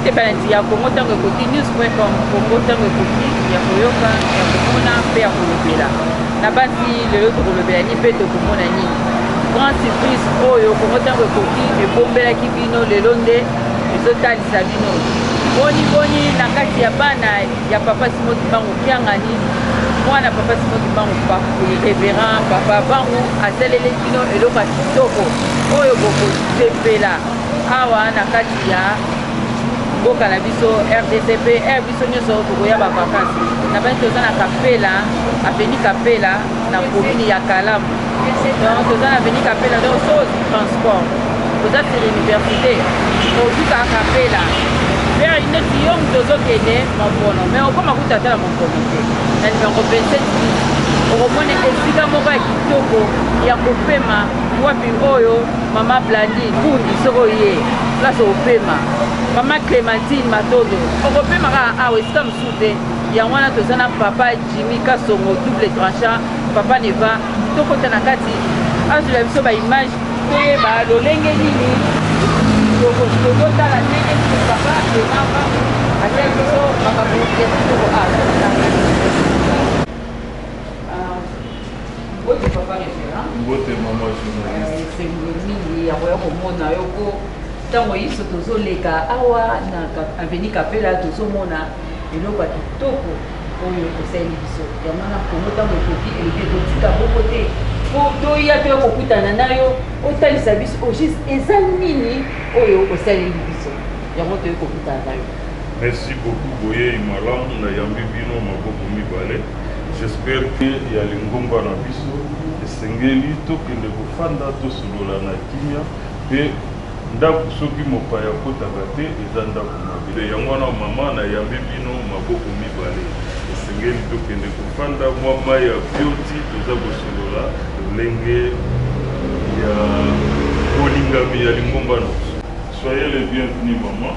epalanzi ya kongo ntango ekoki news com kongo ntango ekoki ya koyoka ya komona mpe ya kolobela na basi lelo tokolobela nini mpe tokomona nini grand surprise oyo kongo ntango ekoki ebombelaki bino lelo nde ezotalisa bino boni boni na kati ya bana ya papa simoki bango kiangani mwana papa simoki bango reverend papa bango asaleli bino eloko ya kitoko oyo bokosepela awa na kati ya mboka na biso rdc mpe biso nyonso tokoya bavakansi nabani toza na kapela aveni kapela na komini ya kalamu donc toza na aveni kapela donc so transport toza sur université ozuka kapela vers neti yo moto ozokende mompono mais okoma kuta ata na mompono te na numero 27 okomona esika moko ya kitoko ya kopema wapi oyo mama blandi kundi soko ye place opema mama clémentine matondo okopema kaka awa esika mosusu te yango wana toza na papa jimi kasongo double tranchant papa neva tokota na kati azwela biso baimage toyeba lolenge nini tokotala ndenge papa emama atali biso makambo ya kitoko awa Mbote papa referent. Mbote mama journaliste. Euh, esengo mingi ya koya komona yo mpo ntango inso tozoleka awa na avenue Kapela tozomona eloko ya kitoko oyo osaleli biso yango na kongo ntango ekoki eleki ekotika boko te mpo toya toya kokutana na yo otalisa biso au juste eza nini oyo osaleli biso yango toyei kokutana na yo merci beaucoup boyei malamu nayambi bino maboko mibale J'espère que ya lingomba na biso esengeli tokende kofanda tosolola na kimia pe ndaku soki mopaya akotaka te eza ndaku mabe yango wana maman na yambi bino maboko mibale esengeli tokende kofanda mwa mayi ya bioti toza kosolola lolenge ya bolingami ya lingomba na biso. Soyez le bienvenu maman.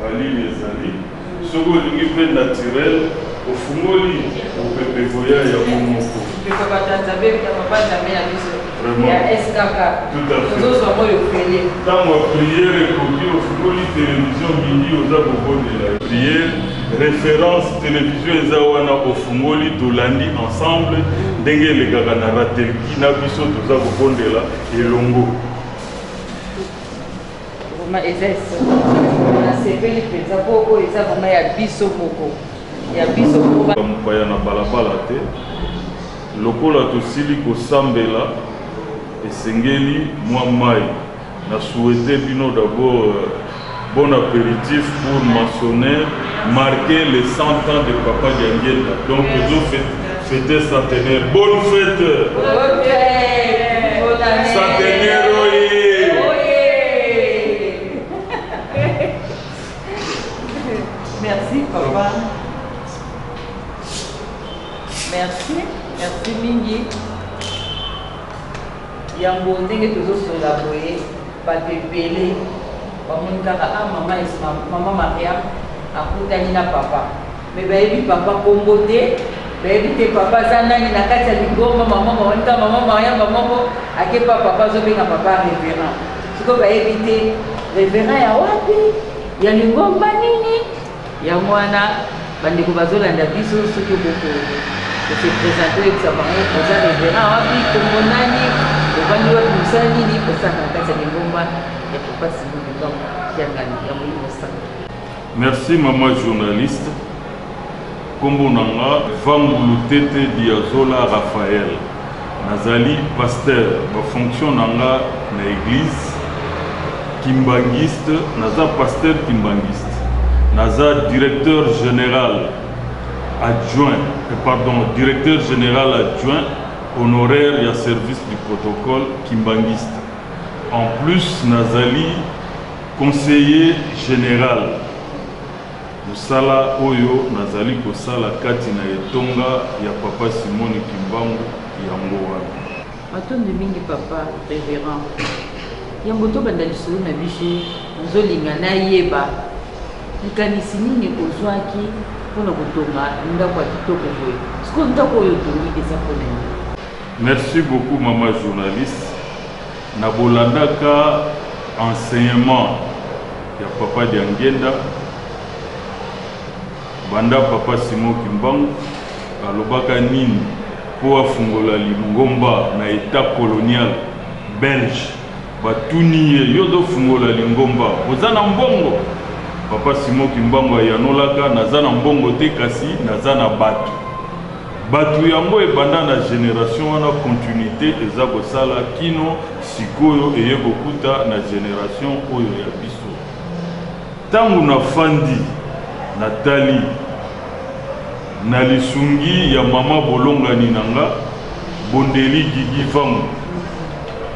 Valime ezali soki olingi pe naturel ofungoli mupepe ekoya yango moko. Ndeko Batanza bebda papa Nzambe na biso ya skk tozo zwa moi ofele. Tango ya prière ekoki ofungoli television midi oza kobondela ye. Prière reference television eza wana ofungoli tolandi ensemble ndenge elekaka na ratelki na biso toza kobondela elongo. Vraiment eza esengo. Nasepeli mpenza mpo oyo eza vraiment ya biso moko. Ya biso moko. Bamopaya na balabala te. Lokola tosili kosambela esengeli mwa mai. Na souhaite bino d'abord euh, bon aperitif pour maçonner, marquer les 100 ans de Papa Diangienda. Donc tozofete Fete centenaire. Bonne fete. Bonne fete. Bonne année. Centenaire. papa merci merci mingi yango ndenge tozosola boye bato ebele bamoni kaka a ah, mama mama maria akutani na papa Mais bayebi papa kombo te bayebi te papa aza nani na kati ya lingomba maman mawanika maman mayamba moko akepa papa azobenga papa reverend sikoyo bayebi te reverend ya wapi ya lingomba nini yango wana bandeko bazolanda biso soki okoko kose presente oyebisa bango oza reverend wapi kombo nani ovandi wapi mosala nini osalaka na kati ya lingomba ya papa simon likambo kiangani ya molimo santu Merci maman journaliste kombo na nga vangu lutete diazola Raphaël nazali pasteur ba fonction na nga na eglise kimbanguiste naza pasteur kimbanguiste naza directeur général adjoint eh, pardon directeur général adjoint honoraire ya service du protocole kimbanguiste en plus nazali Conseiller general, Mosala oyo nazali kosala kati na etonga ya Papa Simoni Kimbangu yango wana. Matondi mingi Papa Reverend. Yambo tobanda lisolo na biso, nazolinga nayeba likanisi nini ozwaki mpo na kotonga ndako ya kitoko boye? Sikoyo ndako oyo otongi eza mpo na nini? Merci beaucoup mama journaliste. Na bolandaka enseignement ya Papa Diangienda, banda Papa Simon Kimbangu alobaka nini mpo afungola lingomba na Etat colonial belge, batuni ye, yo ozo fungola lingomba oza na mbongo? Papa Simon Kimbangu ayanolaka, naza na mbongo te kasi naza na batu. Batu yango ebanda na generation wana continuite eza kosala kino sikoyo eye kokuta na generation oyo ya biso. Tango na fandi na tali na lisungi ya mama bolongani na nga bondeli Gigi Vangu,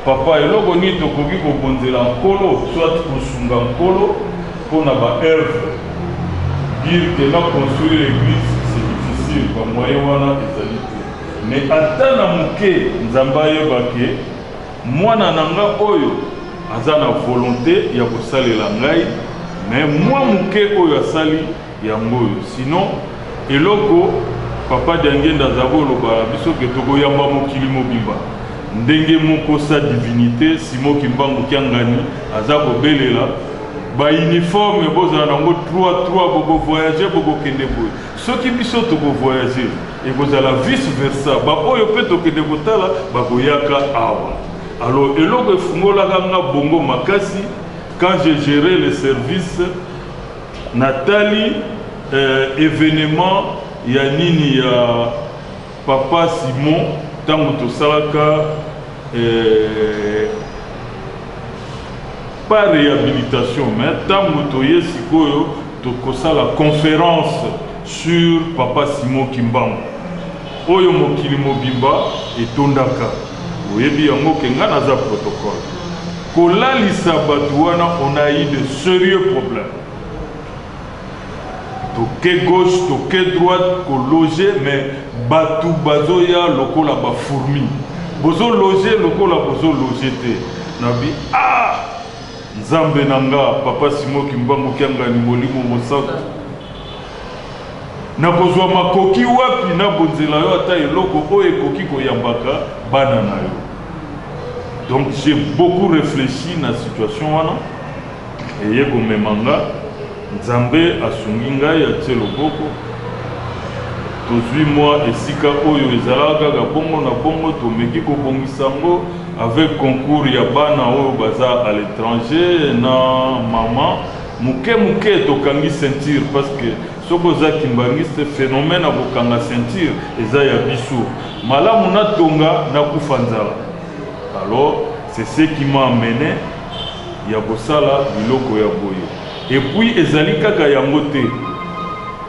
Papa, eloko nini tokoki kobonzela Nkolo, soit kosunga Nkolo mpo na ba œuvres? Dire que na construire l'eglise c'est difficile, ba moyens wana ezali te. Mais ata na moke, Nzambe ayeba que mwana na nga oyo aza na volonte ya kosalela ngai, mais mua moke oyo asali, yango oyo sinon eloko papa diangenda aza koloba biso ke tokoyamba mokili mobimba ndenge moko sa divinité simo kimbangu kiangani aza kobelela bauniforme bozala nango 3 3 bokovoyage bokokende boye soki biso tokovoyage ekozala vice versa baoyo mpe tokende kotala bakoyaka awa alors eloko efungolaka nga bongo makasi quand je gere le service Na tali eh, evenement ya nini ya papa Simon tango tosalaka eh, pas rehabilitation mais tango toye sikoyo tokosala conference sur papa Simon Kimbangu. Oyo mokili mobimba etondaka oyebi yango ke nga naza protocole kolalisa batu wana on a eu de serieux problème toke gauche toke droite kologe mais batu bazoya lokola ba fourmi bozologe lokola bozologe te nabi ah nzambe na nga papa simo kimbangu kiangani molimo mosantu Nakozwa makoki wapi nabonzela yo ata eloko oyo ekoki koyambaka bana na yo? Donc j'ai beaucoup reflechi na situation wana eye komema nga Nzambe asungi ngai atie loboko tozwi mwa esika oyo ezalaka kaka bongo na bongo tomeki kobongisa yango avec concours ya bana oyo baza à l'étranger na mama Muke muke tokangi ceinture parce que soki oza kimbanguiste phenomène ya kokanga ceinture eza ya biso malamu na tonga na kufa nzala alors c'est ce qui m'a amené ya kosala biloko ya boye et puis ezali kaka yango te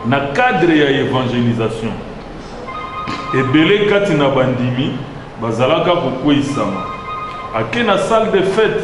na cadre ya evangelisation ebele kati na bandimi bazalaka kokweisama ake na salle de fete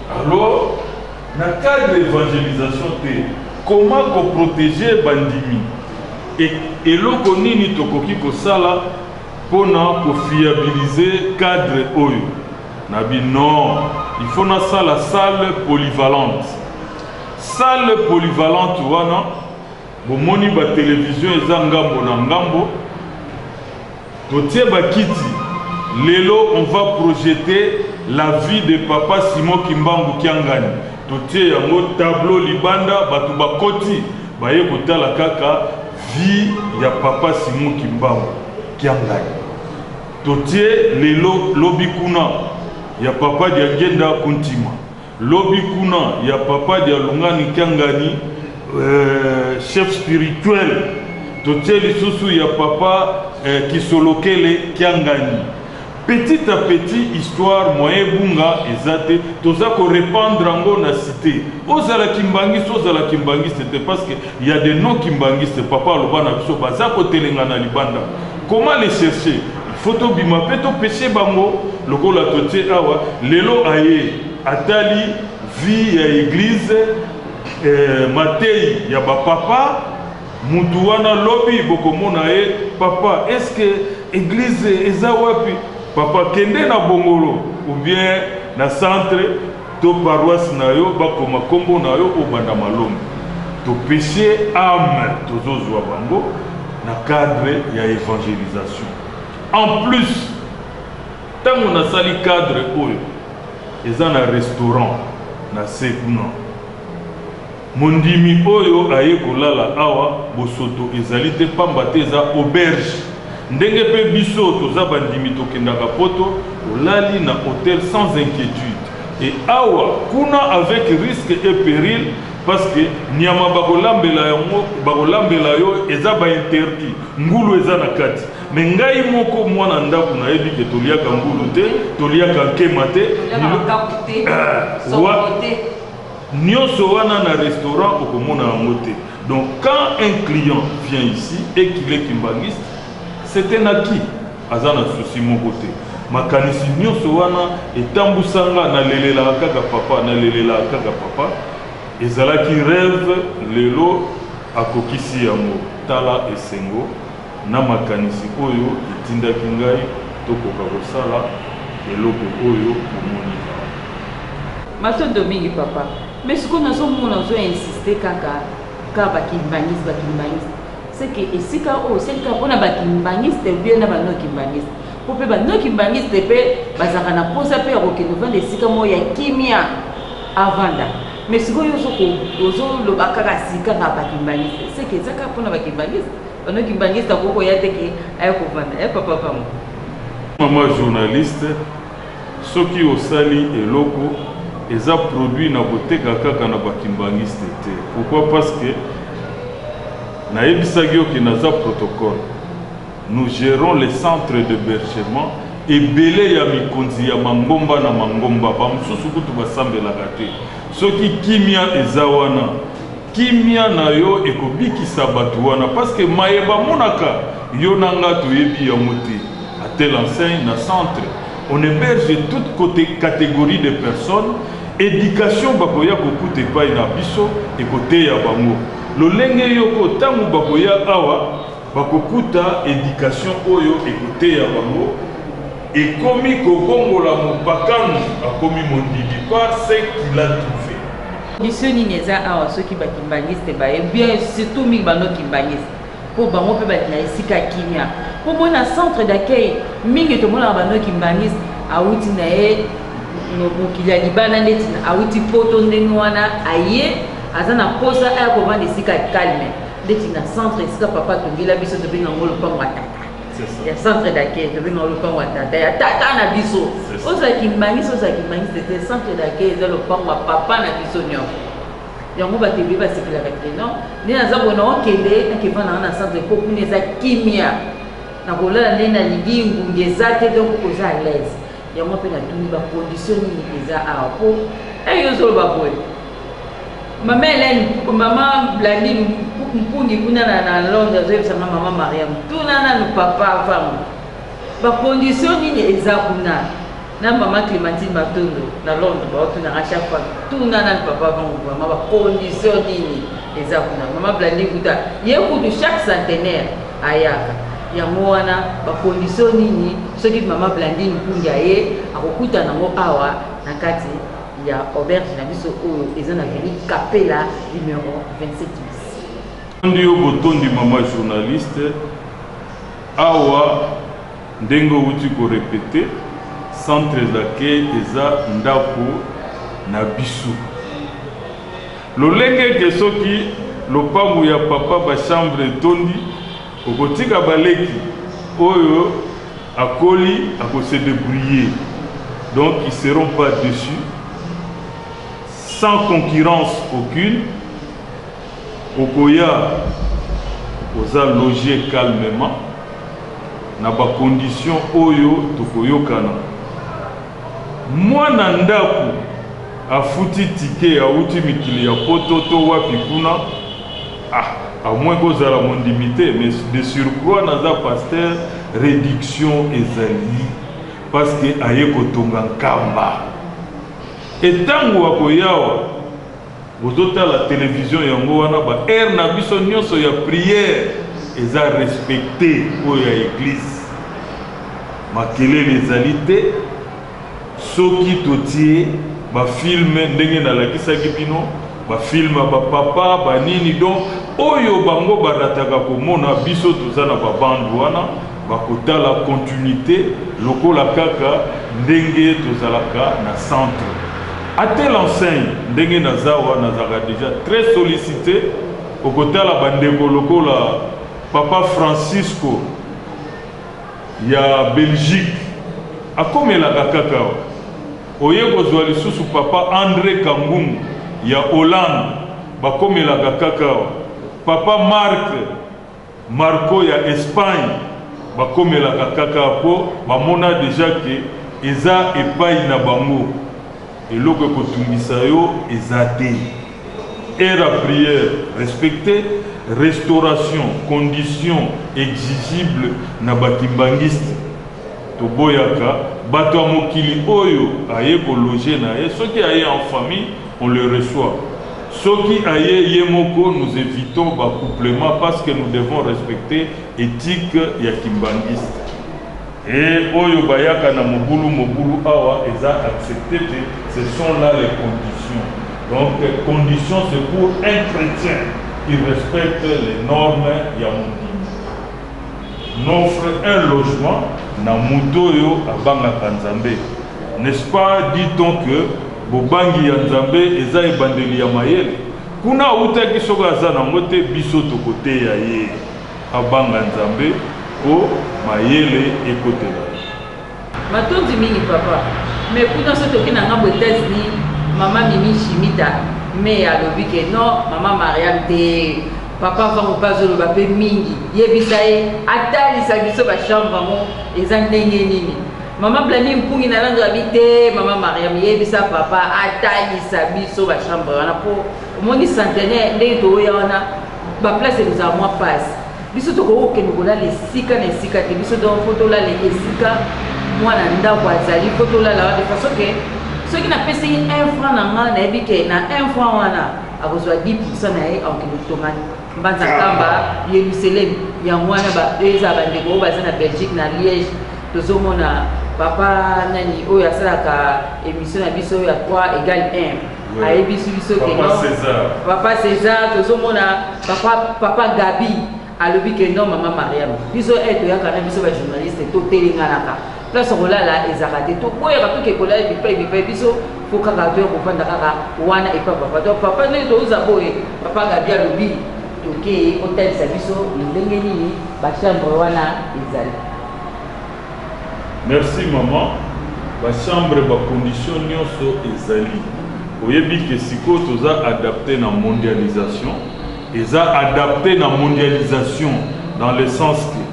Alors na cadre ya evangelisation te comment ko proteger bandimi et eloko nini tokoki kosala pona ko fiabiliser cadre oyo? Na bi non il faut na sala salle polyvalente salle polyvalente wana Bomoni ba television eza ngambo na ngambo totie ba kiti lelo on va projeter la vie de papa Simon Kimbangu Kiangani totie yango tableau libanda bato bakoti baye kotala kaka vie ya papa Simon Kimbangu Kiangani totie lelo lobi kuna ya papa Diangenda Kuntima Lobi kuna ya papa dialungani kiangani euh, chef spirituel totie lisusu ya papa euh, kisolokele kiangani petit à petit histoire moyen ebunga eza te toza korepandre yango na cité ozala kimbangiste ozala kimbangiste te parce que ya de non kimbangiste papa aloba na biso baza kotelengana libanda comment les chercher Faut tobima pe to pese bango lokola totie awa lelo aye atali vie ya eglise eh, mateyi ya ba papa mutu wana lobi bokomona ye papa est-ce que eglise eza wapi papa kende na bongolo ou bien na centre To paroisse na yo ba koma kombo na yo obanda malombe to peche ame tozo zua bango na cadre ya evangelisation en plus tango na sali cadre oyo eza na restaurant na se kuna Mondimi oyo aye kolala awa bosoto ezali te pamba te eza auberge ndenge pe biso toza bandimi tokendaka poto olali na hotel sans inquietude et awa kuna avec risque et peril parce que nyama bakolambela yango bakolambela yo eza ba interdit ngulu eza na kati mais ngai moko mwana ndaku nayebi ke toliaka ngulu te toliaka nkema te Toliaka makaku te, sokoto te. Nionso wana na restaurant okomona yango te donc quand un client vient ici et qu'il est kimbanguiste c'est un acquis aza na souci moko te makanisi nionso wana etambusa nga na lelelaka kaka papa na lelelaka kaka papa ezalaki reve lelo akokisi yango tala esengo na makanisi oyo etindaki ngai tokoka kosala eloko oyo bomoni awa. Matondo mingi papa mais sikoyo nazo mona ozo insiste kaka ka ba kimbanguiste ba kimbanguiste c'est que esika oyo osali kaka pona ba kimbanguiste ou bien na ba no kimbanguiste po pe ba no kimbanguiste pe bazalaka na posa pe ya kokende ovanda esika moko ya kimia avanda mais sikoyo ozo loba kaka sika kaka ba kimbanguiste c'est que eza kaka pona ba kimbanguiste Pardon kibangiste akoki koya te ke aya kovanda eh papa pamba. Maman journaliste soki osali eloko eza produit na koteka kaka na ba kimbanguiste te pourquoi parce que nayebisaki yo ke naza protocole nous gerons les centres de bergement ebele ya mikonzi ya mangomba na mangomba ba mosusu kutu basambelaka te soki kimia eza wana Kimia na yo ekobikisa batu wana parce que maye bamonaka yo na nga toyebi yango te a telle enseigne na centre on heberge toute cote categorie de personnes education bakoya kokuta epai na biso ekoteya bango lolenge yoko tango bakoya awa bakokuta education oyo ekoteya bango ekomi kobongola mopakano akomi mondimi par ce qu'il a trouve. Mission nini eza awa soki ba kimbanguiste baye bien surtout mingi bano kimbanguiste mpo bango mpe balinga esika kimia mpo mona centre d'accueil mingi tomonaka bano kimbanguiste awuti na ye mokili ya libanda ndeti awuti poto ndenge wana aye aza na mposa aya kovanda esika calme ndeti na centre esika papa atongela biso tobenga yango lopango ya tata ya centre d'accueil tobenga o lopango ya tata ya tata na biso ozwa kimbangisi ozwa kimbangisi tete centre d'accueil eza lopango ya papa na biso nyonso yango bato ebele basepelaka te non nde naza bona okende nakevanda nga na centre po kuna eza kimia nakolala nde nalingi ngungi eza te donc oza à l'aise yango mpe natuni bacondition nini eza awa mpo eyo ozoloba boye mama helene mama blandi mpungi kuna na londres azoyebisanga mama mariam tuna nanu papa vango bacondition nini eza kuna na mama clémentine matondo na londres baotunanga chaque fois tuna nanu papa vango mama bacondition nini eza kuna mama blandi kuta ye kutu chaque centenaire ayaka yango wana ba condition nini soki mama blandine mpungi aye akokutana yango awa na kati ya auberge na biso oyo eza na veni kapela numero 27 tondi yo botondi mama journaliste awa ndenge outi korepete centre d'accueil eza ndako na biso Lolenge ete soki lopango ya papa ba chambre etondi okotika ba leki oyo akoli ako se debrouiller donc ils seront pas dessus sans concurrence aucune okoya oza loge calmement na ba conditions oyo tokoyokana Muana ndaku afuti ticket awuti mikili ya poto to wapi kuna ah a moins ko zala mondimi te mais de surcroit naza pasteur reduction ezali parce que aye ko tonga nkamba et tangu ako yawa Bozo tala television yango wana ba heure na biso nionso ya prière eza respecte oyo ya eglise makelele ezali te soki totie ba film ndenge nalakisaki bino ba film ba papa ba nini donc oyo bango barataka komona biso toza na ba bande wana Bakotala continuite lokola kaka ndenge tozalaka na centre. A telle enseigne, ndenge naz'awa nazalaka dejà très sollicite, okotala ba ndeko lokola Papa Francisco ya Belgique akomelaka kaka awa. Oye kozua lisusu Papa Andre Kangungu ya Hollande, bakomelaka kaka awa. Papa Marc. Marco ya Espagne bakomelaka KK po bamona dejà que eza epayi na bango eloko ekotungisa yo eza te heure ya prière respecte restauration condition exigible na ba kimbanguiste toboyaka batu ya mokili oyo aye ko loge naye soki aye en famille On le reçoit soki aye ye moko nous evitons ba couplement parce que nous devons respecter ethique ya kimbanguiste et oyo bayaka na mobulu mobulu awa eza accepte te ce sont là les conditions donc conditions c'est pour un chrétien qui respecte les normes ya mondimi n'offre un logement na moto oyo abangaka nzambe n'est-ce pas dit-on que Bobangi ya Nzambe eza ebandeli ya mayele? Kuna awutaki soki aza nango te biso toko teya ye abanga Nzambe po mayele ekotela ye. Matondi mingi papa mais kuna soki toke na ngambo etats unis maman mimi shimita mais alobi ke non maman mariam te papa vangu pe azoloba pe mingi yebisa ye atalisa biso ba chambre yango eza ndenge nini Mama Blani mpungi na lando abi te mama Mariam yebisa papa atalisa biso ba chambre wana po omoni centenaire ndenge toya wana ba place ekozala mwa pasi biso tokoki kokende kolala esika na esika te biso donc po tolala esika mwana ndako azali po tolala wana de façon ke soki napesi un franc na nga nayebi ke na un franc wana akozwa 10 pourcent na ye akokende kotonga mbanza kamba yeluseleme yango wana baeza bandeko oyo baza na belgique na liège tozomona papa nani oyo asalaka émission na biso ya 3 égal 1 ayebisi biso ke papa césar tozomona papa, papa gabi alobi ke non mama mariam biso e eh, toyaka na biso bajournaliste totelenganaka place ya kolala ezalaka te toboyaka mpe ke kolala bipai bipai biso mpo kaka toya kofanda kaka wana epa papa to papa ndenge touza boye papa gabi alobi tokei otalisa biso ndenge nini bachambre wana ezali merci maman bachambre bacondition nyonso ezali oyebi ke sikoyo toza adapte na mondialisation eza adapte na mondialisation dans le sens que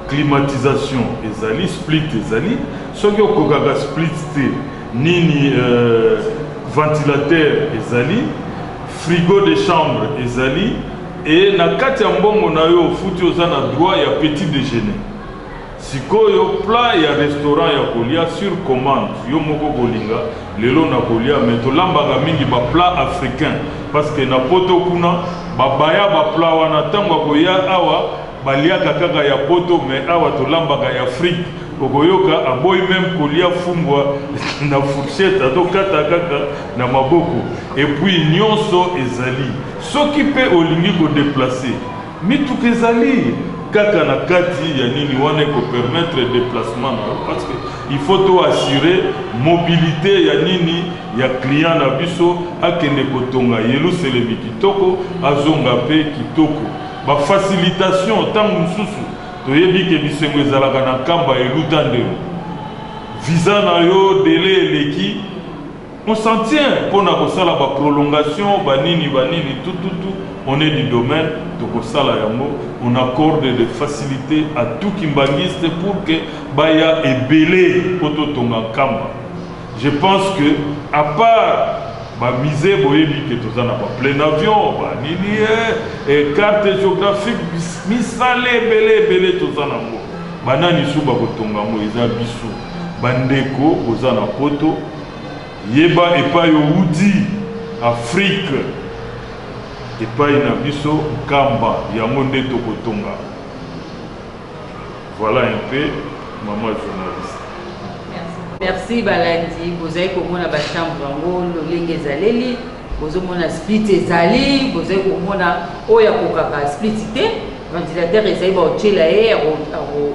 Climatisation ezali split ezali soki okokaka split te nini euh, ventilateur ezali frigo de chambre ezali et na kati ya mbongo na yo ofuti oza na droit ya petit déjeuner sikoyo plat ya restaurant ya kolia sur commande yo moko kolinga lelo na kolia me tolambaka mingi baplat africain parce que na poto kuna babaya baplat wana ntango akoya awa Baliaka kaka ya poto mais awa tolambaka ya fric okoyoka aboyi meme kolia fumbwa na fourchette azo kata kaka na maboko et puis nionso ezali soki pe olingi ko deplacer mituka ezali kaka na kati ya nini wana eko permettre deplacement na yo parce que il faut to assurer mobilite ya nini ya client na biso akende kotonga yeluselemi kitoko azonga pe kitoko Ba facilitations tango mosusu toyebi ke bisengo ezalaka na nkamba eluta ndelo. Visa na yo delai eleki, on s'en tient mpo na kosala ba prolongations ba nini ba nini tout tout tout on est du domaine tokosala yango, on accorde des facilites à tout kimbanguiste pour que baya ebele mpo totonga nkamba. Je pense que à part ba musee boyebi ke toza na ba plein avion ba nini e carte géographique misale ebele ebele toza na ngo banani su bakotonga yango eza biso bandeko boza na poto yeba epai owuti afrike epai na biso nkamba yango nde tokotonga Voilà un peu maman journaliste. merci balandi bozali komona bachambre yango lolenge ezaleli bozomona split ezali bozali komona oyo akokaka split te ventilateur ezali baotyela ye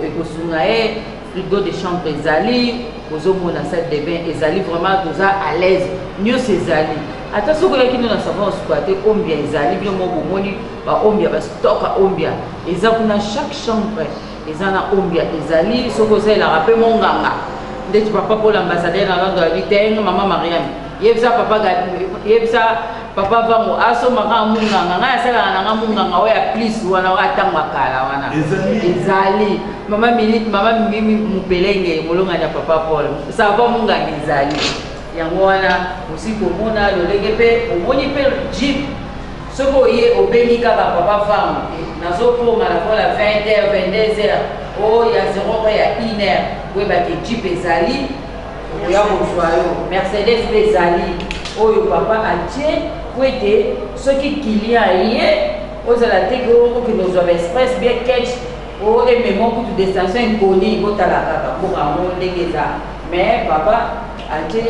ekosunga ye frigo de chambre ezali bozomona salle de bain ezali vraiment toza à l'aise nyonso ezali ata soki oyaki no na savon osuka te ombia ezali bino moko bomoni ba ombia ba stock ya ombia eza kuna chaque chambre eza na ombia ezali soki osalelaka mpe monganga ndeti papa mpola ambassadeur na londres abi te mama mariame yebisa papa yebisa papa vango asomaka ah, monganga ngai asalaka na nga monganga oyo ya plis wana oyo atango akala wana ezali mama minute mama mimi mopelenge molongani ya papa paul sava monganga ezali yango wana osi komona lolenge mpe omoni mpe jeep Soki oye obengi kaka papa Vangu te nazo koma lakola 20 heures 22 heures oh ya 0 heure ya 1 heure boyeba ke jeep ezali okoya kozwa yo Mercedes pe ezali oyo papa atie po ete soki client aye ozala te ke okende kozwa ba express bien catch o emema kutu destination inconnue botala kaka mboka yango ndenge eza mais papa atie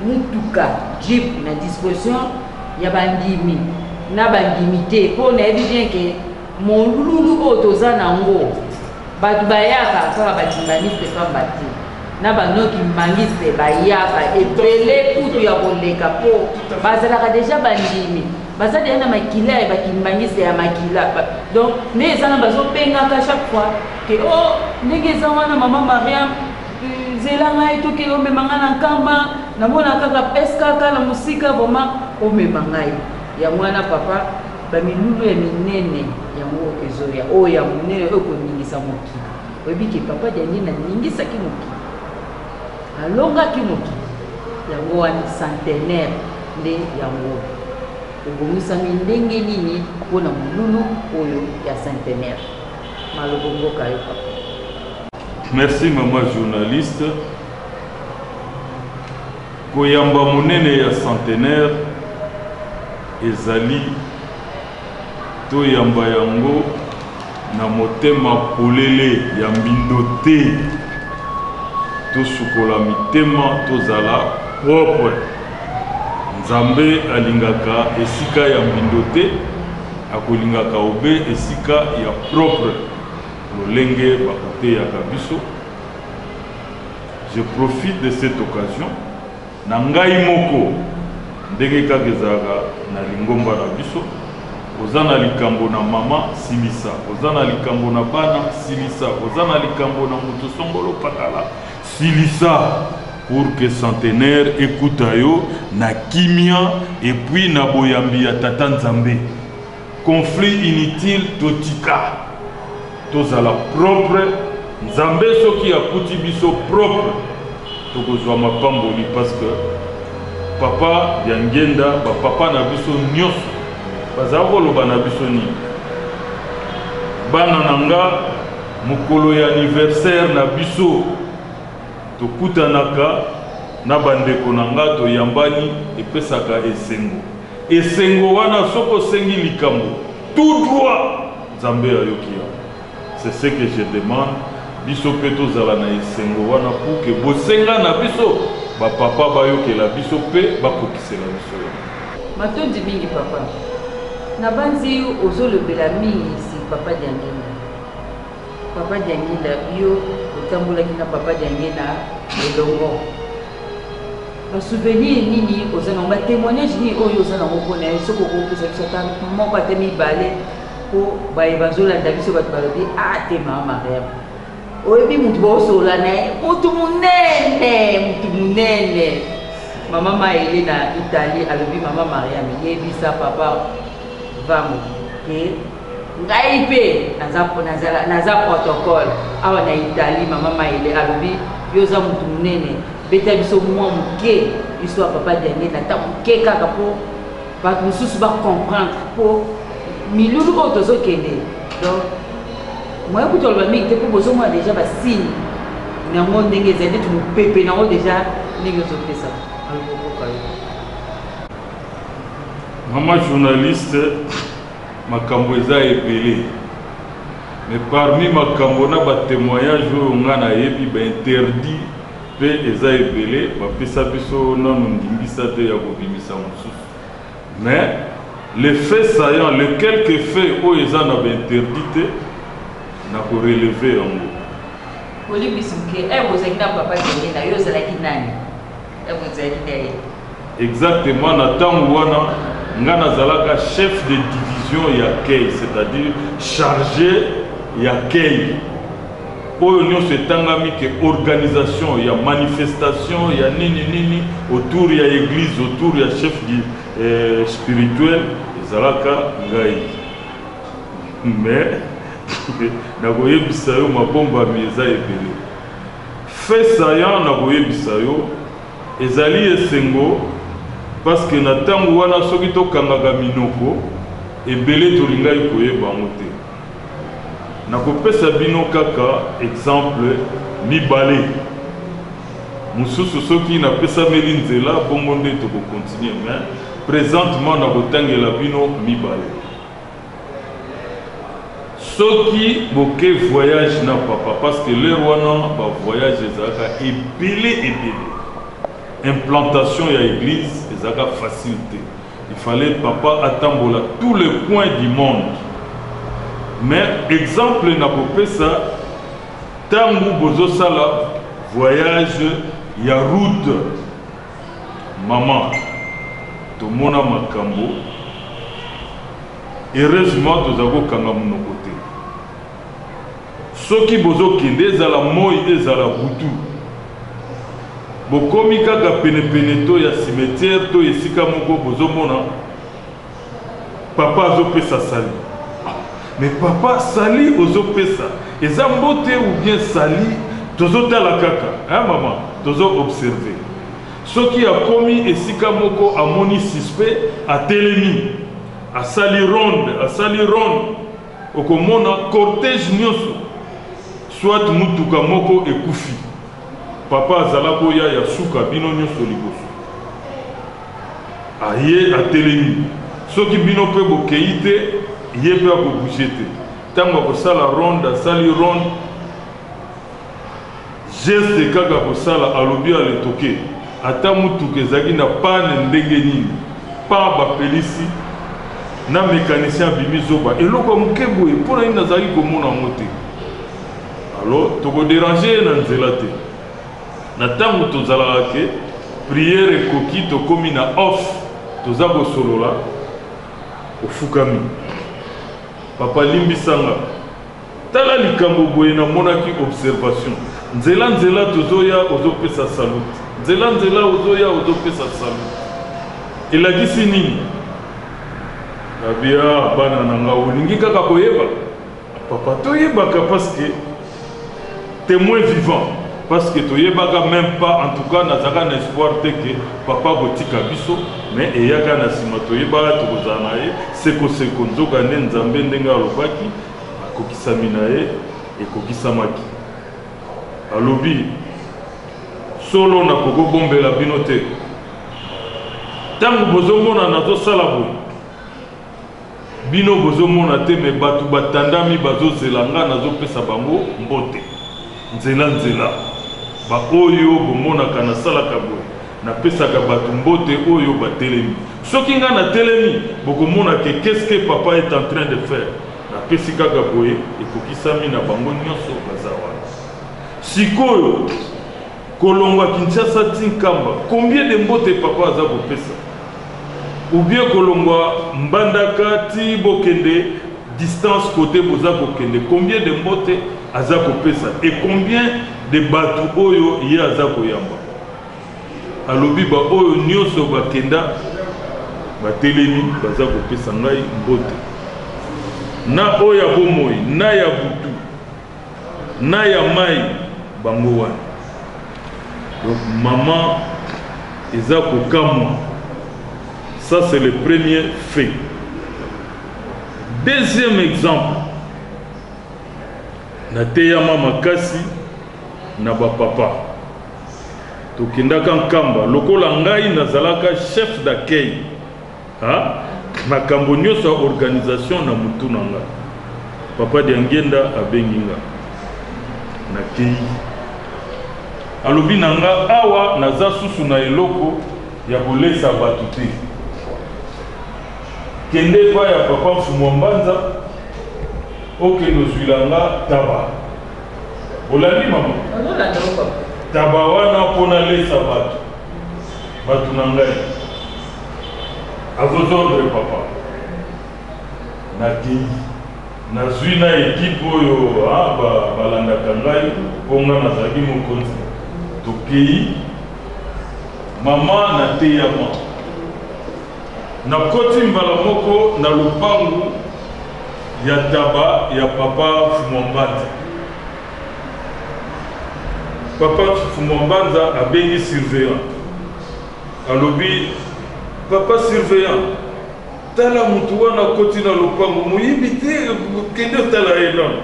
mutuka jeep na disposition ya bandimi na bandimi te mpo nayebi bien ke molulu oyo toza na yango bato bayaka kaka batimbaniste pamba te na banoki mbangiste bayaka ebele kutu ya koleka mpo bazalaka deja bandimi baza deja na makila ya bakimbangiste ya makila donc nde eza na bazobengaka chaque fois ke o oh, ndenge eza wana mama mariame Zela ngai tokende omema ngai na nkamba namona kaka skk na mosika vraimen omema ngai yango wana papa bamilulu ya minene yango ezoya oyo ya monene oyo koningisa mokili oyebi ke papa diangene aningisaki mokili alongaki mokili yango wana centenaire nde yango obongisami ndenge nini mpo na molulu oyo ya centenaire malobo mboka yo papa Merci maman journaliste. Koyamba monene ya centenaire ezali toyamba yango na motema polele ya mbindo te tosukola mitema tozala propre nzambe alingaka esika ya mbindo te akolingaka obe esika ya propre lolenge bakoteyaka biso je profite de cette occasion na ngai moko ndenge kaka ezalaka na lingomba na biso oza na likambo na mama silisa oza na likambo na bana silisa oza na likambo na moto songolo pakala silisa pour que centenaire ekuta yo na kimia epuis na boyambi ya tata nzambe Conflit inutile totika tozala propre nzambe soki akuti biso propre tokozwa mapamboli parce que papa diangenda ba papa na biso nyonso bazala koloba na biso nini bana na nga mokolo ya anniversaire na biso tokutanaka na bandeko na nga toyambani epesaka esengo Esengo wana soki osengi likambo tout droit Nzambe ayoki yango c'est ce que je demande biso mpe tozala na esengo wana pour que bosenga na biso ba papa bayokela biso mpe bakokisela biso yango. Matondi mingi papa. Nabanzi ozolobela mingi si papa Diangienda. Papa Diangenda yo otambolaki na Papa Diangenda elongo ba souvenir nini oza nango ba témoignage nini oyo oza nango mpo na ye soki okopesa biso ata moko ata mibale mpo baye bazolanda biso bato balobi atema ah, mariame oyebi motu baosola na ye motu monene motu monene mama maele na italie alobi mama mariame yebisa papa vamo ke Ngai pe naza nazala naza protocole awa na Italie mama Maile alobi yo oza mutu munene beta biso mwa muke biso ya papa Diange na ta muke kaka po bato mosusu ba comprendre po milulu oyo tozokende donc moye kutu aloba mingi te po bozomona deja basigne yango ndenge ezali neti mopepe nango deja ndenge ozopesa alokokoka yo mama journaliste Makambo eza ebele mais parmi makambo na ba temoignage oyo nga na yebi ba interdit pe eza ebele ba pesa biso nanu ndingisa te ya ko bimisa mususu mais le fait saillant le quelque fait oyo eza na ba interdit te na ko relever yango. Olimbisi muke eh bozalaki na papa Denge na yo ozalaki nani? Exactement, na tango wana nga nazalaka chef de division ya kei, c'est-à-dire chargé ya kei. Oyo nyonso etangami ke organisation ya manifestation ya nini nini autour ya église, autour ya chef du, eh, spirituel ezalaka ngai. Mais nakoyebisa yo mabombami eza ebele. Fait saillant na koyebisa yo, ezali esengo parce que na tango wana soki to kangaka minoko ebele tolingaki koyeba yango te. Na kopesa bino kaka exemple mibale mosusu soki na pesameli nzela bongo nde toko continuer mais presentement na kotangela bino mibale. Soki boke voyage na papa parce que l'heure wana ba voyage ezalaka ebele ebele. Implantation ya eglise ezalaka facile te. Il fallait papa atambola tous les coins du monde. Mais exemple na kopesa tangu bozo sala voyage ya route Maman tomona makambo heureusement tozali kokanga monoko te soki bozokende ezala moi ezala butu bokomi kaka penepene to ya cimetière to esika moko bozomona Papa azo pesa sali. Mais papa sali ozo pesa eza mbote ou bien sali tozo tala kaka hein maman tozo observe soki akomi esika moko amoni suspect atelemi asali ronde asali ronde okomona cortège nyoso soit mutuka moko ekufi papa azala boya ya suka bino nyoso liboso Aye atelemi. Soki bino pe bokeyi te, ye pe ako bouger te. Tango akosala ronde, asali ronde, geste kaka akosala, alobi à le toquer. Ata mutuka ezalaki na panne ndenge nini, pan bapelisi, na mecanicien abimi zoba. Eloko ya muke boye, pona nini nazalaki komona yango te? Alors, toko deranger ye na nzela te. Na tango tozalaka que prière ekoki tokomi na off toza kosolola ofukami papa limbisa nga tala likambo boye namonaki observation nzela nzela tozoya ozopesa salute nzela nzela ozoya ozopesa salute elakisi nini babia bana na nga olingi kaka koyeba Papa to yebaka parce que temoin vivant parce que toyebaka même pas en tout cas nazalaka na espoir te que papa akotika biso mais eyaka na nsima toyebaka tokozala na ye sekoseko nzoka nde nzambe ndenge alobaki akokisami na ye ekokisamaki alobi solo nakoki kobombela bino te ntango bozomona nazosala boye Bino bozo mona te mais batu ba tandami bazo zela nga nazo pesa bango mbote nzela nzela ba oyo bo monaka na salaka boye na pesaka batu mbote oyo ba telemi soki nga na telemi boko mona ke qu'est ce que papa est en train de faire na pesi kaka boye ekokisami na bango nionso baza wana sikoyo Kolongwa Kinshasa ti Nkamba combien de mbote papa aza kopesa? Ou bien kolongwa Mbandaka ti bokende distance cote boza kokende combien de mbote aza kopesa et combien de batu oyo ye aza koyamba? Alobi ba oyo nioso bakenda batelemi baza kopesa ngai mbote na oyo ya bomoi na ya butu. Na ya mayi bango wana. Donc maman eza kokamwa ça c'est le premier fait deuxième exemple nateyama makasi na bapapa tokendaka nkamba lokola ngai nazalaka chef d'accueil Ah, makambo nyonso ya organisation na mutu na nga papa diangenda abengi nga nakei alobi na nga awa naza susu na eloko ya kolesa bato te kende epai ya papa mfumu ya mbanza okende ozwila nga taba olandi mama taba wana mpo nalesa bato Batu na ngai. A vos ordres papa. Nakeyi. Nazui na equipe oyo ah, ba, balandaka ngai mpo ngai nazalaki mokonzi. Tokeyi. Mama nateyama. Nakoti mbala moko na lopangu ya taba ya papa Fumambandi. Papa Fumua Mbanza abengi surveillant, alobi, Papa surveillant, tala mutu wana akoti na lopango, moyibi te, kende otala ye nanu.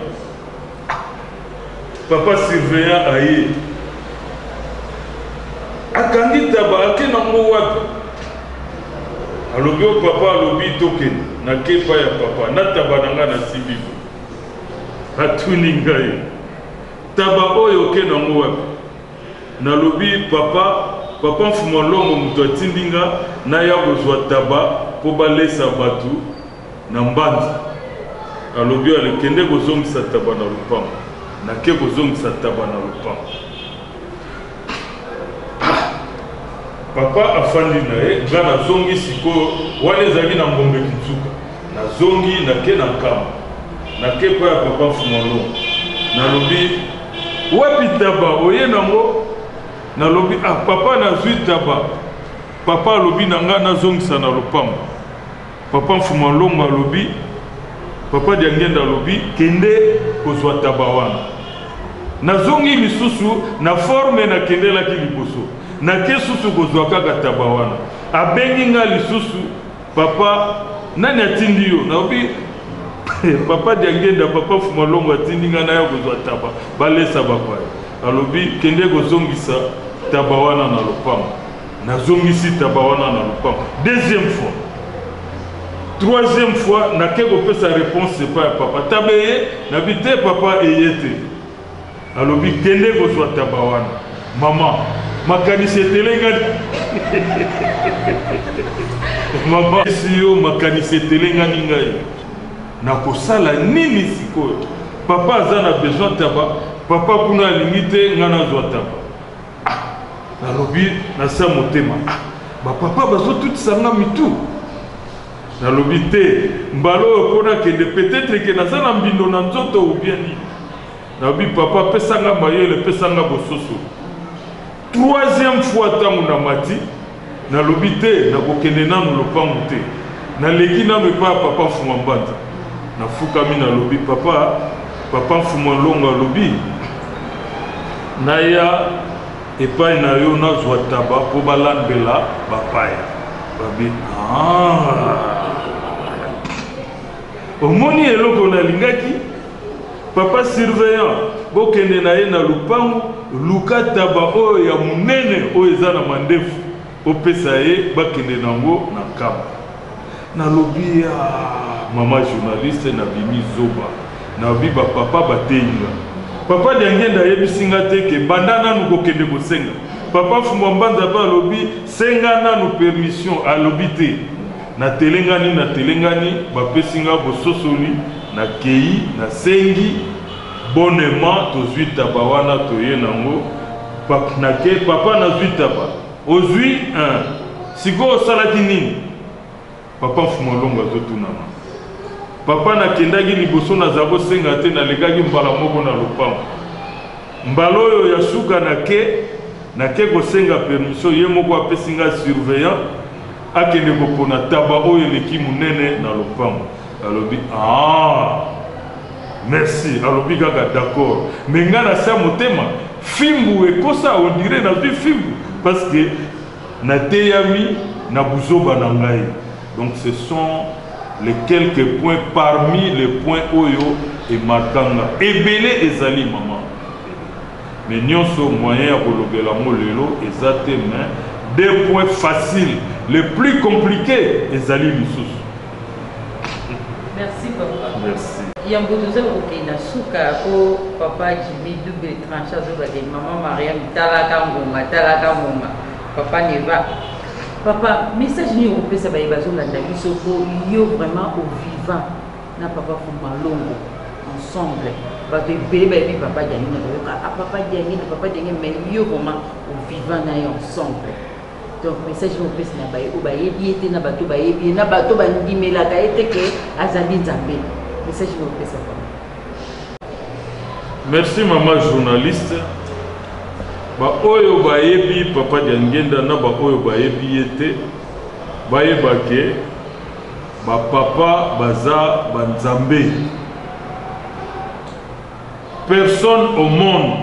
Papa surveillant aye, akangi taba, ake nango wapi? Alobi, o oh, papa, alobi tokende, nake epai ya papa, na taba na nga nasimbi. Atuni ngai, Taba oyo oke nango wapi? Nalobi, Papa, Papa Mfumua Longo moto atindi nga naya kozua taba po balesa batu na Mbanza. Alobi, Ale, kende kozongisa taba na lopango. Nake kozongisa taba na lopango. Papa afandi na ye, nga nazongi sikoyo. Wana ezalaki na Ngombe Kinsuka. Nazongi nake na nkamba. Nake epai ya papa Mfumalongo. Nalobi, Wapi taba? Oye nango? Nalobi, Ah, papa nazui taba. Papa alobi na nga nazongisa na lopango. Papa Mfumalongo alobi, Papa Diangenda alobi, kende kozua taba wana. Nazongi lisusu na forme nakendelaki liboso. Nake susu kozua kaka taba wana. Abengi nga lisusu. Papa nani atindi yo nayobi papa diangenda papa fumalongo atindi ngai naya kozwa taba balesa bapaya alobi kende kozongisa taba wana na lopango nazongisi taba wana na lopango deuxième fois troisième fois nake kopesa réponse epai ya papa taba eye nabi te papa eye te Alobi kende kozwa taba wana. Maman makanisi etelengani maman esi yo makanisi etelengani ngai nakosala nini sikoyo papa aza na besoin taba papa kuna alingi te ngai nazwa taba ah, nalobi nasa motema ah, bapapa bazotutisa nga mitu Nalobi te mbala oyo po nakende peut etre que naza na mbindo na nzoto ou bien nini. Nalobi papa pesa nga mayele pesa nga bososoli. Troisième fois tango na mati nalobi te nakokende nanu lopangu te. Naleki nanu epai ya papa Mfuma Mbanza. Nafukami nalobi papa papa Mfuma Nlongo alobi naya Epai na yo nazwa taba mpo balambela bapaya babi ah. omoni eloko nalingaki papa surveillant bokende na ye na lupangu luka taba oyo ya monene oyo eza na mandefu Opesa ye bakende nango na nkamba nalobi aah maman journaliste na bimi zoba nayobi ba papa bateyi nga papa diangienda ayebisi nga te ke banda nanu kokende kosenga papa fumbua mbanza pe alobi senga nanu permission alobi te na telengani na telengani bapesi nga bososoli na keyi na sengi Bonnement tozui taba wana toye nango papnake papa nazui taba ozui eeh sikoyo osalaki nini papa nfumolongo azotunama papa nakendaki liboso naza kosenga te nalekaki mbala moko na lopango mbala oyo ya suka nake nake kosenga permission ye moko apesi nga surveillant akende kopona taba oyo eleki munene na lopango alobi aah Merci alobi kaka d'accord mais nga na sa motema fimbu ekosa on dirait na zui fimbu parce que na teyami na buzoba na ngai donc ce sont les quelques points parmi les points oyo et markanga ebele ezali maman mais nionso moyen ya kolobela ngo lelo eza te mais deux points faciles les plus compliqués ezali lisusu Merci papa. Merci. Yambo toza kokenda suka ko papa Jimmy double tranche azoba de maman Mariam talaka ngonga talaka ngonga papa Neva papa message nini okopesa baye bazolanda biso po yo vraiment au vivant na papa Fumalongo ensemble bato ebele bayebi papa Diangi na bayoka a ah, papa Diangi na papa Diangi mais yo vraiment au vivant na ye ensemble donc message oyo opesi na baye oyo bayebi ye te na bato bayebi ye na bato bandimelaka ye te ke azali nzambe message oyo opesa bango merci mama journaliste baoyo bayebi papa diangenda na baoyo bayebi ye te bayeba ke bapapa baza banzambe personne au monde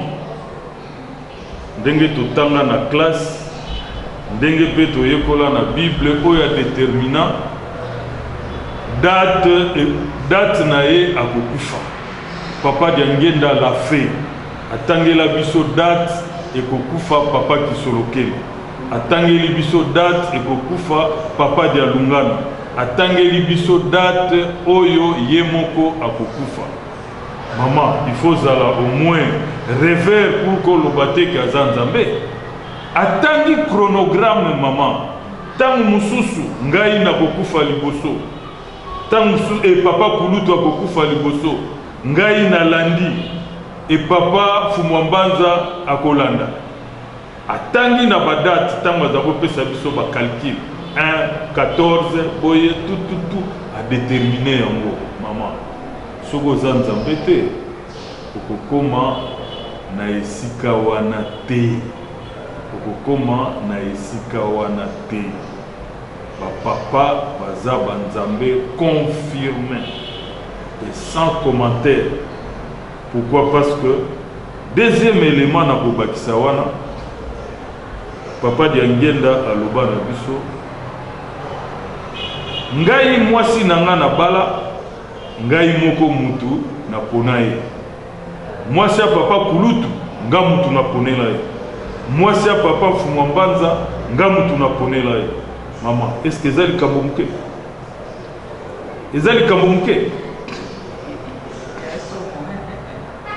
ndenge totanga na classe, ndenge pe toyekola na Bible oyo a determina date, date na ye akokufa. Papa Diangienda la fe atangela biso date ekokufa Papa Kisolokele, atangeli biso date ekokufa Papa Dialungana, atangeli biso date oyo ye moko akokufa. Maman il faut ozala au moins reveur pour ko loba te ke aza nzambe atangi chronogramme maman ntango mosusu ngai nakokufa liboso ntango mosusu e papa kulutu akokufa liboso ngai nalandi e papa fumwambanza akolanda Atangi na ba date tango aza ko pesa biso ba calcul un 14 boye tout tout tout a determine yango maman soki oza nzambe te okokoma na esika wana te okokoma na esika wana te ba papa baza ba nzambe confirme et sans commentaire Pourquoi parce que deuxième element na kobakisa wana papa diangienda aloba na biso ngai mwasi na ngai na bala ngai moko mutu na pona ye mwasi ya papa kulutu nga mutu na ponela ye mwasi ya papa mfumwa mbanza nga mutu na ponela ye mama eske eza likambo moke eza likambo moke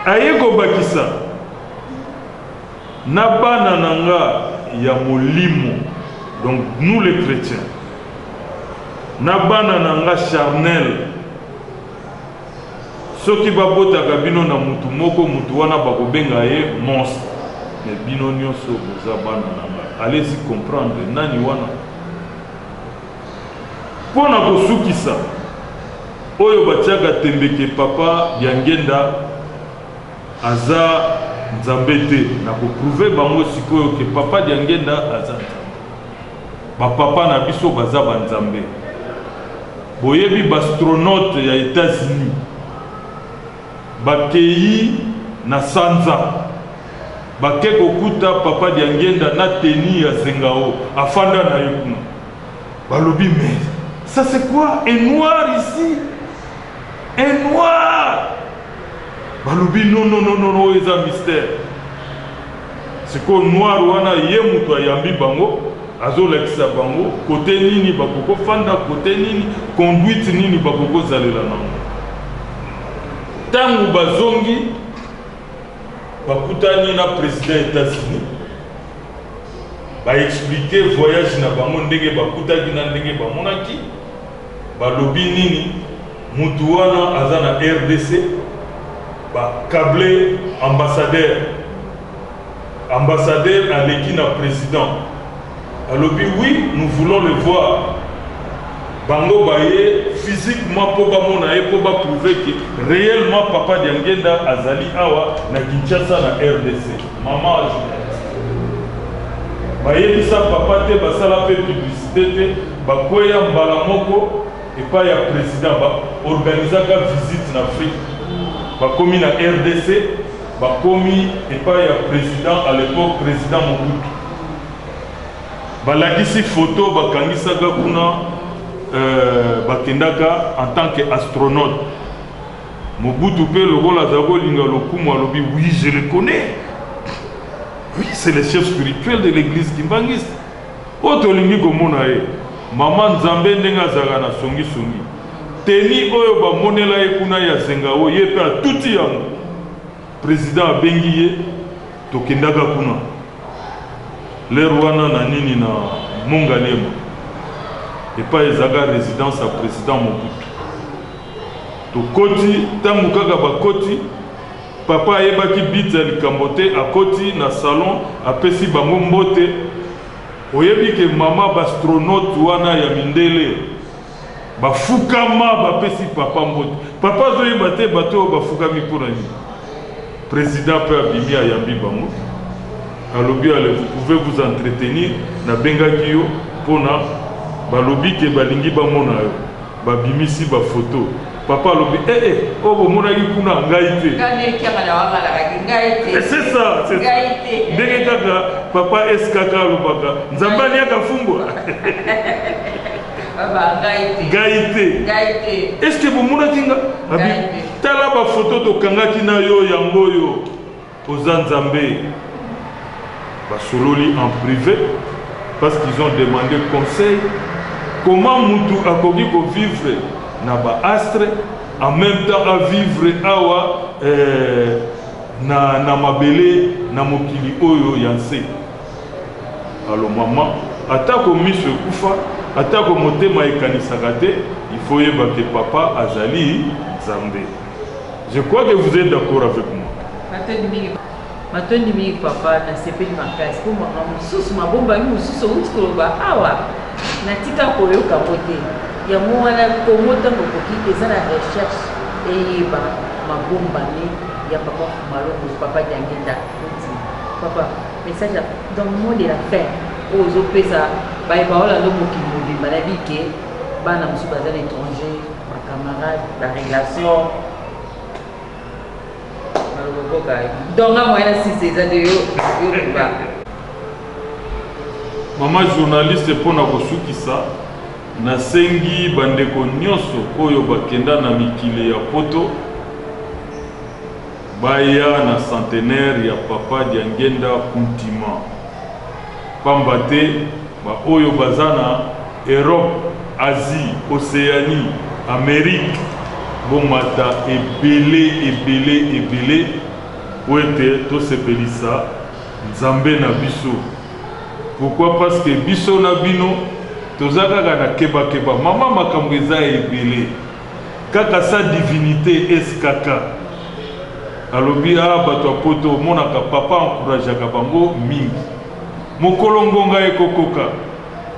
aye kobakisa na bana na nga ya molimo donc nous les chrétiens na bana na nga charnel soki babotaka bino na mutu moko mutu wana bakobenga ye monstre me bino nyonso boza bana na nga allez y comprendre nani wana Mpo na kosukisa, oyo batiaka tembe ke Papa Diangenda aza Nzambe te, na ko prouver bango sikoyo ke Papa Diangenda aza Nzambe. Ba Papa na biso baza ba Nzambe. Boyebi b'astronautes ya Etats-Unis? Bakeyi na sanza, bake kokuta Papa Diangienda na tenue ya zengao afanda na ye kuna. Balobi mais ça c'est quoi un noir ici? Un noir? Balobi non non non non oyo eza mystère. Sikoyo noir wana ye mutu ayambi bango azolakisa bango kote nini bakoko fanda kote nini conduite nini bakoko zalela nango tangu bazongi bakutani na president etats-unis baexplike voyage na bango ndenge bakutaki na ndenge bamonaki Balobi nini? Mutu wana aza na rdc ba cable ambassadeur ambassadeur aleki na president alobi oui nous voulons le voir bango baye physiquement po bamona ye po ba prouve que reellement papa diangienda azali awa na Kinshasa na rdc. Maman a journaliste. Bayebisa papa te basala pe publicite te bakweya mbala moko epai ya president ba organisaka visite na Afrique bakomi na rdc bakomi epai ya president à l'epoque president Mobutu balakisi photo bakangisaka kuna euh, bakendaka en tant que astronaute Mobutu mpe lokola azali kolinga lokumu alobi oui je le connais oui c'est le chef spirituel de l'église kimbanguiste oyo tolingi komona ye mama nzambe ndenge azalaka na songisongi teni oyo bamonela ye kuna ya zengao ye mpe atuti yango president abengi ye tokendaka kuna lere wana na nini na mongaliema epai ezalaka résidence ya president mobutu Tokoti, tango kaka bakoti, papa ayebaki but ya likambo te, akoti na salon, apesi bango mbote, oyebi ke mama b'astronautes wana ya mindele bafukama, bapesi papa mbote, papa azoyeba te bato oyo bafukami mpo na nini, president mpe abimi ayambi bango, alobi allez vous pouvez vous entretenir, nabengaki yo mpo na balobi ke balingi bamona yo. Ba bimisi ba photo papa alobi eh eh oyo bo monaki kuna ngai te. Nga nde kiangana wa nga lakaki ngai te. Eh, c'est ça, c'est ça. Ngai te. Ndenge kaka papa SKK alobaka Nzambe aliaka fumbwa. Baba ngai te. Ngai te. Ngai te. Est-ce que bo monaki nga? Abi tala ba photo tokangaki na yo yango yo. Oza nzambe basololi en prive parce qu'ils ont demandé conseil comment mutu akoki ko vivre na ba astre en même temps a vivre awa euh, na, na mabele na mokili oyo ya nse alo mama atako miso ekufa atako motema ekanisaka te ifoyebake papa azali nzambe Je crois que vous êtes d'accord avec moi. Matondi mingi. Matondi mingi papa na sepeli makasi mpo makambo mosusu mabombami mosusu outi koloba awa natika koyoka ngo te yango wana kongo ntango okoki eza na recherche eyeba mabombami ya papa malongo papa diangenda oti papa message dans le monde de la fin oyo ozopesa baye baolanda mokili mobimba na bike bana mosusu baza na étranger bacamarade barelation balokokoka donga moyen na sise eza te yo yokuba mama journaliste mpo na kosukisa nasengi bandeko nyonso oyo bakenda na mikili ya poto baya na centenaire ya papa diangenda kuntima pamba te Ba oyo baza na Europe, Asie, Oceanie, Amerique bo mata ebele ebele ebele po ete to sepelisa Nzambe na biso. Pourquoi parce que biso na bino toza kaka na keba keba maman makambo eza ebele kaka sa divinite skk alobi ah batu ya poto omonaka papa encourageaka bango mingi. Mokolo ngonga ekokoka,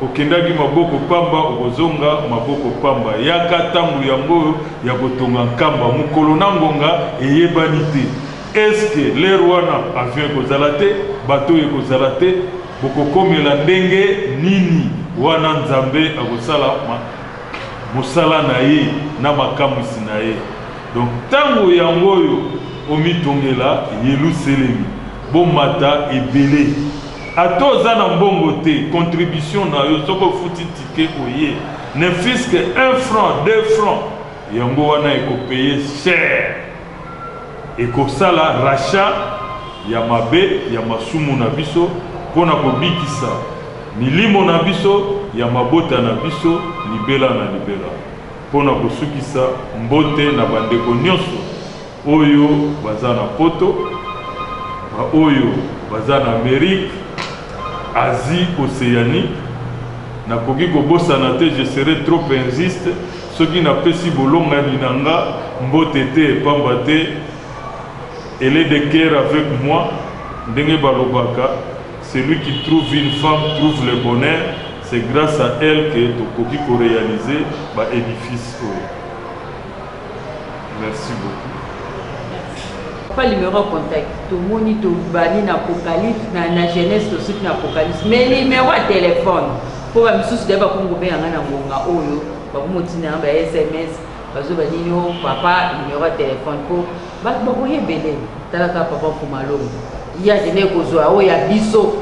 okendaki maboko pamba, okozonga maboko pamba. Yaka tango yango oyo ya kotonga nkamba. Mokolo na ngonga eyebani te. Est-ce que l'heure wana avion ekozala te, bateau ekozala te, bokokomela ndenge nini? Wana Nzambe akosala mosala na Ye na makamwisi na Ye. Donc, tango yango oyo omitongela Yeluselemi. Bomata ebele ata oza na mbongo te contribution na yo soki ofuti ticket oye ne fus que un franc deux francs yango wana eko paye cher ekosala rachat ya mabe ya masumu na biso pona kobikisa milimo na biso ya mabota na biso libela na libela pona kosukisa mbote na bandeko nionso. Oyo baza na poto, ba oyo baza na Amerique, Asie, Oceanie, nakoki kobosana te, je serai trop injuste soki napesi bolongani na nga mbote te, pamba te elle est de coeur avec moi, ndenge balobaka, celui qui trouve une femme trouve le bonheur, c'est grace à elle que tokoki ko realiser ba edifices oyo. Merci beaucoup. Papa numéro ya contact tomoni tobani na apocalypse na, na jeunesse tosuki na apocalypse mais numéro ya telefone mpo bamisusu dai bakongobenga ngai na ngonga oyo bakomotinda na ba sms bazoba nini o oh, papa numéro ya telefone mpo bato bakoya ebele talaka papa mfumalongo ye akende kozwa oyo ya biso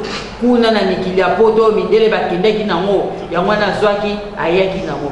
kuna na mikili ya poto mindele bakendaki nango yango wana azwaki ayaki nango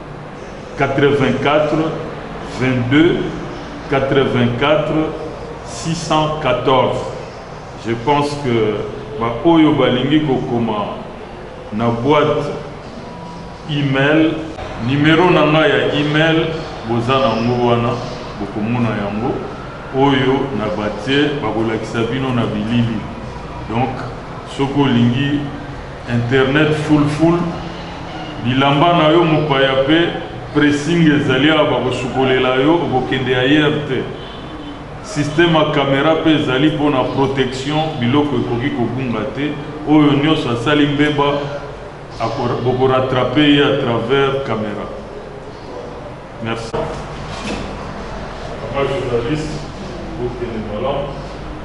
84 22 84 614 je pense que baoyo balingi kokoma na boîte email numero na ngai ya email boza nango wana bokomona yango oyo na batie bakolakisa bino na bilili donc soki olingi Internet full full bilamba na yo mopaya pe pressing ezali awa bakosukolela yo okokende ailleurs te système ya camera pe ezali mpo na protection biloko ekoki kobunga te oyo nyonso asali mbeba bokoratrape ye à travers camera. Merci papa journaliste bokende malamu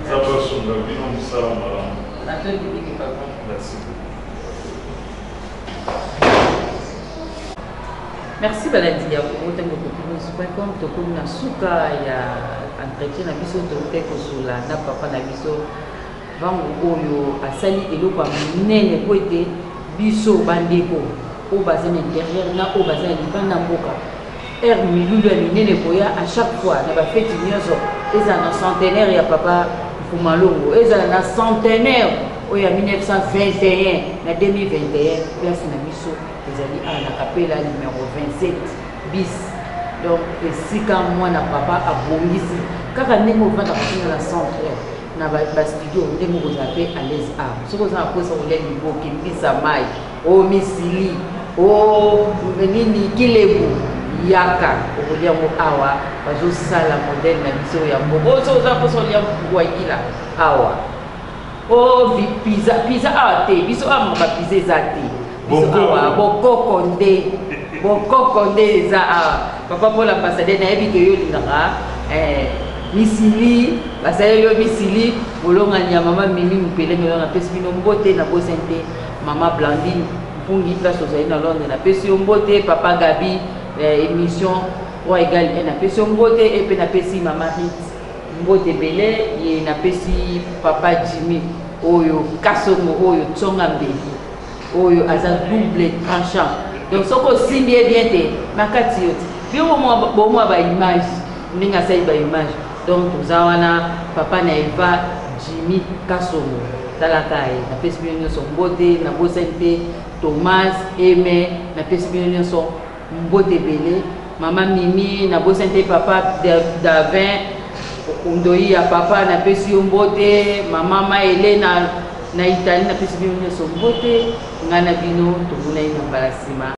nzambe asunga bino mosala malamu natondi mingi papa merci merci balandi ya kokote mokokimuscom tokomi na suka ya entretien na biso toke kozula na papa na biso Mbangu oyo asali eloko ya monene mpo ete biso bandeko oyo baza na interieur na oyo baza na libanda mboka heure milulu ya minene ekoya à chaque fois na bafeti nyonso ezala na centenaire ya papa mpumalongo ezala na centenaire oyo ya 1921 na 2021 place na biso ezali awa na kapela numero 27 bis donc esika mwana papa abongisi kaka ndenge ovanda kotina na centre na ba ba studio nde moko za pe à l'aise a soki oza na posa kolia liboke mbisa mai o oh, misili o oh, nini kilebu yaka okolia yango awa bazosala modele na biso ya mboka oyo soki oza posa olia wayila awa o oh, piza piza awa te biso awa mabapiza eza te awa bokoko nde bokoko nde eza awa papa mpo l'ambassadeur nayebi ke yo olingaka eh, misili basali yo misili bolongani ya mama mimi mopele melo napesi bino mbote na bosen te mama blandine mpungi place ozali na londres napesi yo mbote papa gabi eh, émission roi egal e napesi yo mbote e mpe napesi mama rit mbote ebele ye napesi papa jimmy oyo kasongo oyo tsonga mbeli oyo aza double tranchant donc soki osimbi ye bien te makati yo te bino bomwa baimage ndenge asali baimage donc toza wana papa na eva jimi kasongo talaka ye napesi bino nyonso mbote nabosani te thomas eme napesi bino nyonso Mbote ebele mama mimi na bosani te papa davin ndoyi ya papa napesi yo mbote mama ma elena na italie napesi bino nyonso mbote ngai na bino tomonani na mbala nsima